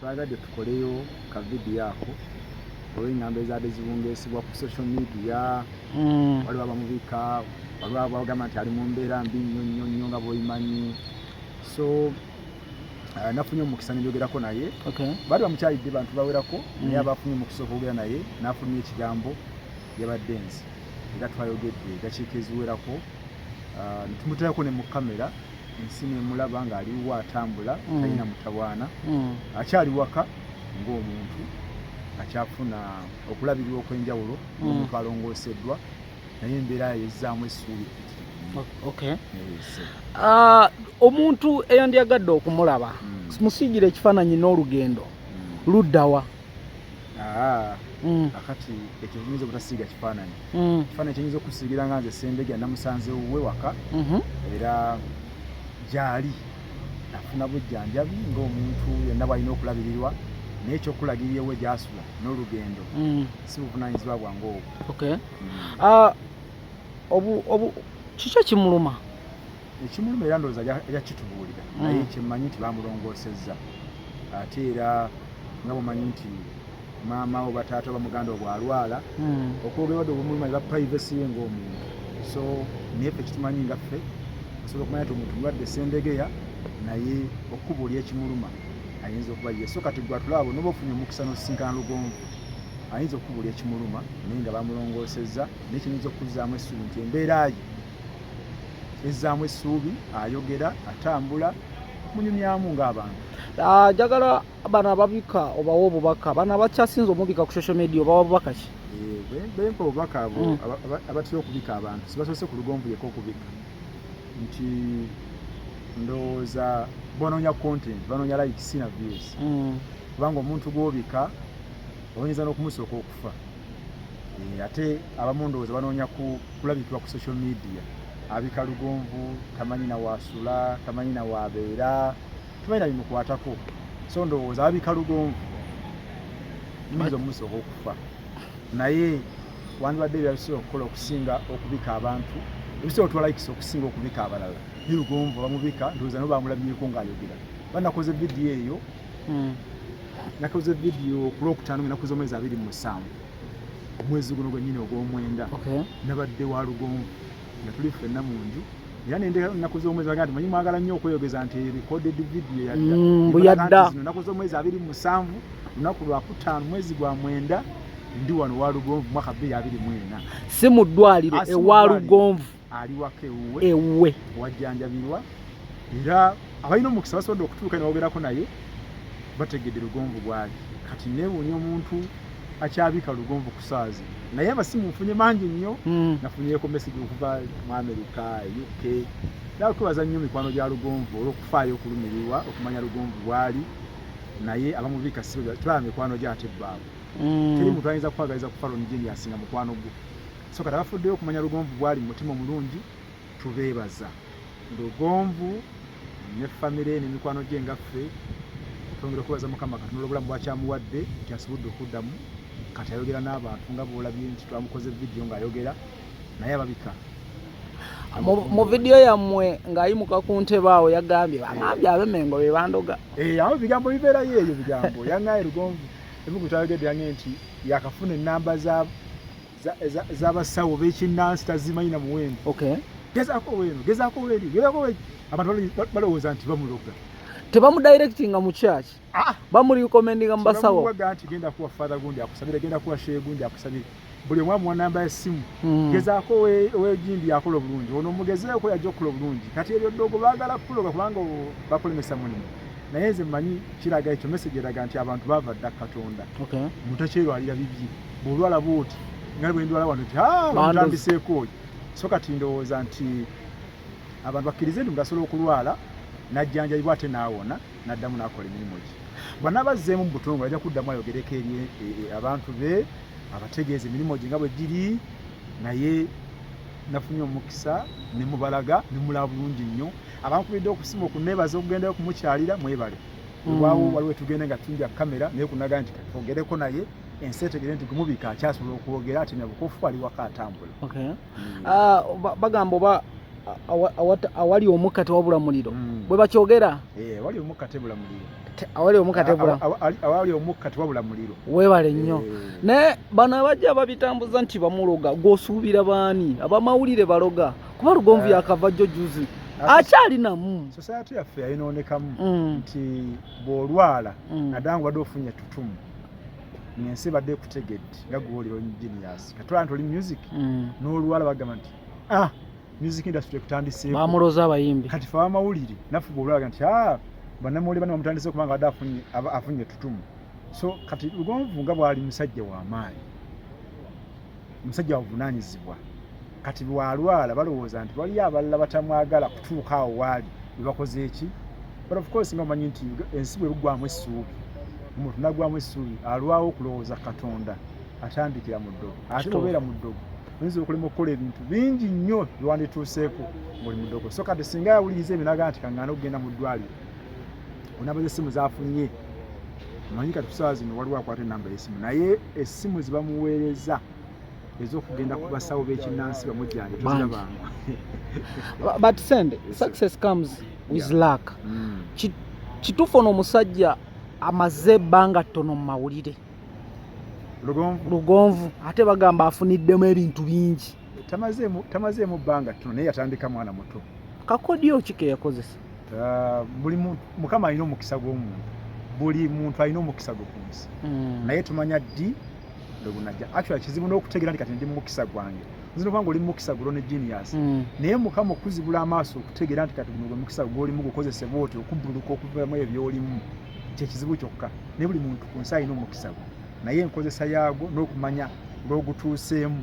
Twagadde tukoleyo ka video ako olw'engambo ezaadde zibungeesibwa ku social media mm. waliwo abamubika waliwo abagamba nti ali mu mbeera mbi nnyo nnyo nnyo nga bwoyimanyi so uh, nafunye omukisa nebyogerako naye baali bamukyalidde bantu bawerako mm. naye abafunye omukisa okwogera naye nafulumya ekigambo yabadde nzi era twayogedde edakiika eziwerako uh, netumutayako ne mu kamera ensi nemulaba nga aliwo atambula mm. talina mutawaana mm. akyali waka ng'omuntu akyafuna okulabirirwa okwenjawulo mm. omuntu alongooseddwa naye embeera yezzaamu essuubi eh, ah, omuntu eyandyagadde okumulaba musiigire ekifaananyi n'olugendo luddawa Ah, mm. akati ekyo kiyinza obutasiiga kifaananyi mm. kifaananyi kyenyinza okusiigira nga nze sembegya namusanze wuwe waka mm-hmm. era gyali nafuna bujjanjabi ngaomuntu yenna bwalina okulabirirwa naye ekyokulagirira ewe gyasula n'olugendo mm. si buvunanyizibwa bwange obwo ah, kiki ekimuluma ekimuluma era ndowooza ajja kitubuulira mm. naye kyemmanyi nti bamulongoosezza ate era nga bwemanyi nti maama oba taata oba muganda obwalwala mm. okwogera wadde obumuluma eba privacy ye ngaomuntu so naye fe kitumanyi nga ffe osobola okumanya nti omuntu mulwadde sendegeya naye okubuulira ekimuluma ayinza okuba ye so kati gwatulaabo noba ofunye omukisa nosisinkana lugonvu ayinza okubuulira ekimuluma naye nga bamulongoosezza naye kiyinza okukuzaamu essuubi nti embeera ye ezzaamu essuubi ayogera atambula munyumyamu ng'abantu ah, njagala bano ababika obawa obubaka bano abakyasinza omubika ku social media obawa bubaka ki eh, bempa obubaka abo mm. abatera okubika abantu sibasoose ku lugonvu yeka okubika nti ndowooza banoonya content banoonya like sina views mm. kubanga omuntu gwobika oyinza n'okumusooka okufa eh, ate abamu ndowooza banoonya kulabikibwa ku social media abika lugonvu tamanyi nawaasula tamanyi nawaabeera tamanyi nabimukwatako so ndowooza abika lugonvu nyinza omusoka okufa naye wandibadde ebyabisobola okukola okusinga okubika abantu ebisobola otwalaikisa okusinga okubika abalala nirugonvu bamubika ndowooza no bamulabyeko ngaayogera banakoze vidiyo eyo hmm. nakoze vidiyo ku lwokutaano nga nakoze omwezi abiri mu musanvu omwezi guno gwennyini ogw'omwenda nabadde wa lugonvu nga tuli ffenna mu nju era nendeka nnaku z'omwezi bagamba nti manyi mwagala nnyo okweyogeza nti recorded video yadda mm, mbu yadda nnaku z'omwezi abiri mu musanvu lunaku lwakutaano mwezi gwa mwenda ndi wano wa lugonvu mwaka bbiri abiri mwena si mu ddwaliro ah, ewa lugonvu ali waka ewuwe ewuwe wajjanjabirwa era abalina omukisa basobodde okutuuka ne bawogerako naye bategedde lugonvu bwali kati neewuunya omuntu akyabika lugonvu ku saazi naye amasimu nfunye mangi nnyo hmm. nafunyeko mesage okuva mu amerika uk era kwebaza nnyo mikwano gya lugonvu olwokufaayo okulumirirwa okumanya lugonvu bwali naye abamubika situlaba mikwano gyo ate bbaabwe hmm. teri muntu ayinza kukwagaliza kufa lonijeni yasinga mukwano gwo so kati abafuddeyo okumanya lugonvu bwali mu mutima omulungi tubeebaza lugonvu ne famire ne mikwano gye nga ffe twongera okubaza mukama katonda olwobulamu bwakyamuwadde nti asobodde okuddamu kati ayogera n'abantu nga bwolabye nti twamukoze vidiyo ng'ayogera naye ababika mu vidiyo yammwe ng'ayimuka ku ntebe awo yagambye bangambye abemengo be bandoga eh, awo bigambo bibeerayo eyo bigambo yangaye lugonvu ebigu twayogedde yange nti yakafuna ennamba za z'abasawo bekinnansi tazimanyi na muwendo gezaako weeno gezaako weeri gezaako weeri abantu balowooza nti bamuloga tebamudirectinga mu church ah! bamurecommendinga mu basawo nti genda kuwa father gundi akusabire genda kuwa shehe gundi akusabire buli omu amuwa namba ya ssimu hmm. gezaako wegindi yakola obulungi ono omugezeeko yajja okukola obulungi kati ebyo ddogo baagala kukuloga kubanga bakulemesa mulimu naye nze manyi kiraga ekyo message eraga nti abantu baava dda katonda mutekyerwalira bibye bwolwala bwoti nga bwendwala wano ti ah, bamutambiseeko oyo so kati ndowooza nti abantu bakkirize nti mugasobola okulwala najjanjabibwa ate naawona naddamu nakola emirimu gye bwanaaba azzeemu mu butongole ajja kuddamu ayogereko eri e, e, abantu be abategeeza emirimu gye nga bwe giri naye nafunye omukisa ne mubalaga ne mulaba bulungi nnyo abankubidde okusima okuneebaza okugendayo okumukyalira mwebale mm. wewaawo waliwo etugenda nga tumbya kamera naye kunaga nti twogereko naye ensi etegere nti gumubika akyasobola okwogera ati nabukofu ali waka atambula okay. mm. uh, bagamba oba awali omukka tewabula muliro mm. bwe bakyogera eh, awali omukka tebula muliro awali omukka tebula awali omukka tewabula muliro webale nnyo eh. naye bano abajja babitambuza nti bamuloga gwosuubira baani abamawulire baloga kuba lugonvu eh. yakava jjo juzi akyalinamu society yaffe yayinoonekamu mm. nti bw'olwala mm. naddala nga obadde ofunye ettutumu ensi ebadde ekutegedde nga gwoliro engineers katwala nti oli music mm. n'oluwala bagamba nti ah music industry ekutandiseeko bamulooza abayimbi kati fe abamawulire naffe bwolulaga nti ah bannamawulire bana bamutandise kubanga badde afunye etutumu so kati lugonvu nga bwali musajja w'amaanyi omusajja wavunaanyizibwa kati lwalwala balowooza nti waliyo abalala batamwagala kutuuka awo waali bebakoze eki but of course nga omanyi nti ensi bwe bugwamu essuubi omuntu nagwamu essuubi alwawo okulowooza katonda atandikira mu ddogo ate obeera mu ddogo oyinza okulema okukola ebintu bingi nnyo byewandituuseeko ngaoli mu ddogo so kati singa yawuliriza ebinaga nti kaŋŋana okugenda mu ddwaliro onaba z'essimu z'afunye manyi kati kusaawa zino waliwo akwata enamba y'essimu naye essimu zibamuweereza ezokugenda ku basawo b'ekinnansi bamujjane tuzirabanga but send success comes with yeah. luck mm. kituufu ono omusajja amaze ebbanga ttono mu mawulire lugonvu ate bagamba afuniddemu ebintu bingi tamazeemu bbanga ttono naye yatandika mwana muto kakodyo ki ke yakozesa ah, buli mukama alina omukisa gw'omuntu buli muntu alina omukisa gwe ku nsi hmm. naye tumanya ddi lwegunaja actual kizibu n'okutegeera nti kati ndi mumukisa gwange nzina okubanga oli mumukisa gulo ne genius hmm. naye mukama okuzibula amaaso okutegeera nti kati guno gwe mukisa gwolimu gukozesebwa oti okubbuluka okuvamu ebyo byolimu kyekizibu kyokka naye buli muntu ku nsi alina omukisa gwe naye enkozesa yaagwo n'okumanya lw'ogutuuseemu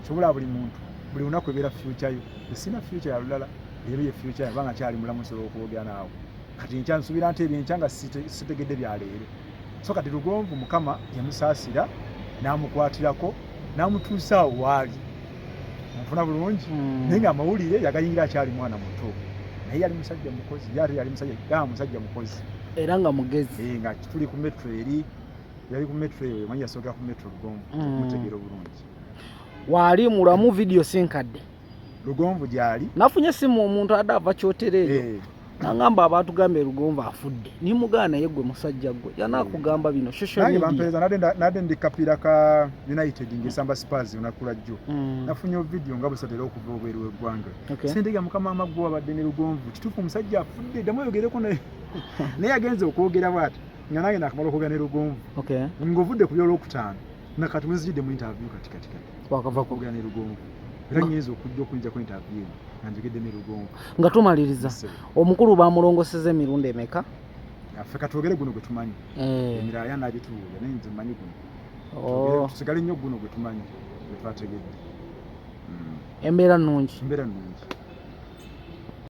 kisobola buli muntu buli lunaku ebeera fyuca yo esina fyuca ya lulala leero ye fyuca yaba nga kyali mulamu nsobola okwogera naawe kati enkya nsuubira nti ebyo enkya nga sitegedde bya leero so kati lugonvu mukama yamusaasira n'amukwatirako n'amutuusa awo waali nfuna bulungi hmm. naye nga amawulire yagayingira akyali mwana muto naye yali musajja mukozi ye ate yali musajja musajja mukozi era nga mugezi eh, nga tuli ku metro eri yali ku metro eyo manyi yasookera ku metro lugonvu mm. mutegeera obulungi waali mulamu vidiyo sinkadde lugonvu gyali nafunye esimu omuntu adde ava kyotera eyo eh. nangamba abantu gambe lugonvu afudde nimugaa naye gwe musajja gwe yanakugamba eh. bino shoshnade ndi kapiira ka united ngesamba spars onakula jjo mm. nafunye ovidiyo nga busatera okuva obweru weggwanga sentega mukama amaggwe wabadde ne lugonvu kituufu omusajja afudde ddamu oyogereko naye naye agenze okwogera bwati nga nange nakamala okwogera ne lugonvu okay. ng'ovudde ku byolwokutaano nga kati wenzijidde mu interview kati kati kati wakava kwogera ne lugonvu era nyinza okujja okuyinja ku interview eno nga njogedde ne lugonvu nga tumaliriza omukulu bamulongoseza emirundi emeka affe katwogere guno gwe tumanyi eh. emirala yanabituwulira naye nze manyi guno oh. tusigale nnyo guno gwe tumanyi gwe twategedde hmm. embeera nnungi embeera nnungi